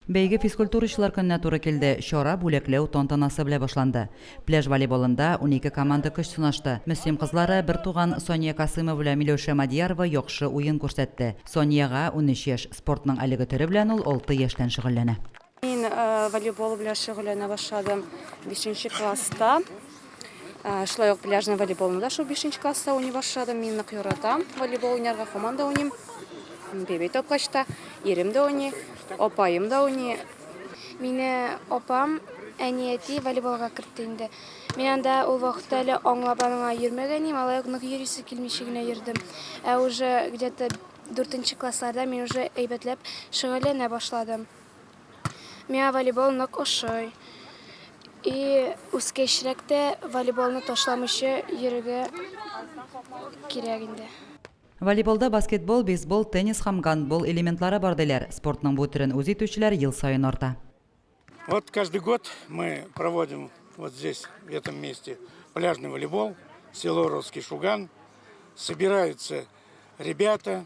Бәйге физкультурачылар көненә туры килде, чара бүләкләү тантанасы белә башланды. Пляж волейболында унике команда көч сынашты. Мөслим кызлары, бертуган Сания Касыймова белән Миләүшә Мадиярова яхшы уен күрсәтте. Саниягә, унөч яшь, спортның әлеге төре белән ул алты яшьтән шөгыльләнә. Мин волейбол белән шөгыльләнә башладым бишенче класста. Ә, шулай ук пляжный волейболны да шул 5 класста уйный башладым. Мин нык яратам волейбол уйнарга, һаман да уйныйм. Бебей тапкачта ирем дә уйный, апаем да уйный. Мине апам, әни әти волейболга кертте инде. Мин анда ул вакытта әле аңлап аныңа йөрмәгән идем, алай ук нык йөрисе килмичә генә йөрдем. Ә уже где-то 4 классларда мин уже әйбәтләп шөгыльләнә башладым. Миңа волейбол нык ошый. И үскәчрәк тә волейболны ташламыйча йөрергә кирәк инде. Волейболда баскетбол, бейсбол, теннис һәм гандбол элементлары бар, диләр. Спортның бу төрен үз итүчеләр ел саен арта. Вот каждый год мы проводим вот здесь, в этом месте, пляжный волейбол, село Русский Шуган. Собираются ребята,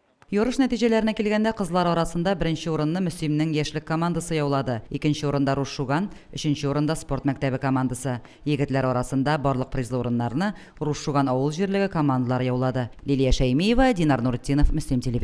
Ярыш нәтиҗәләренә килгәндә, кызлар арасында беренче урынны Мөслимнең яшьлек командасы яулады, икенче урында Руш Шуган, өченче урында спорт мәктәбе командасы. Егетләр арасында барлык призлы урыннарны Руш Шуган авыл җирлеге командалары яулады. Лилия Шәймиева, Динар Нуретдинов, Мөслим телевидениесе.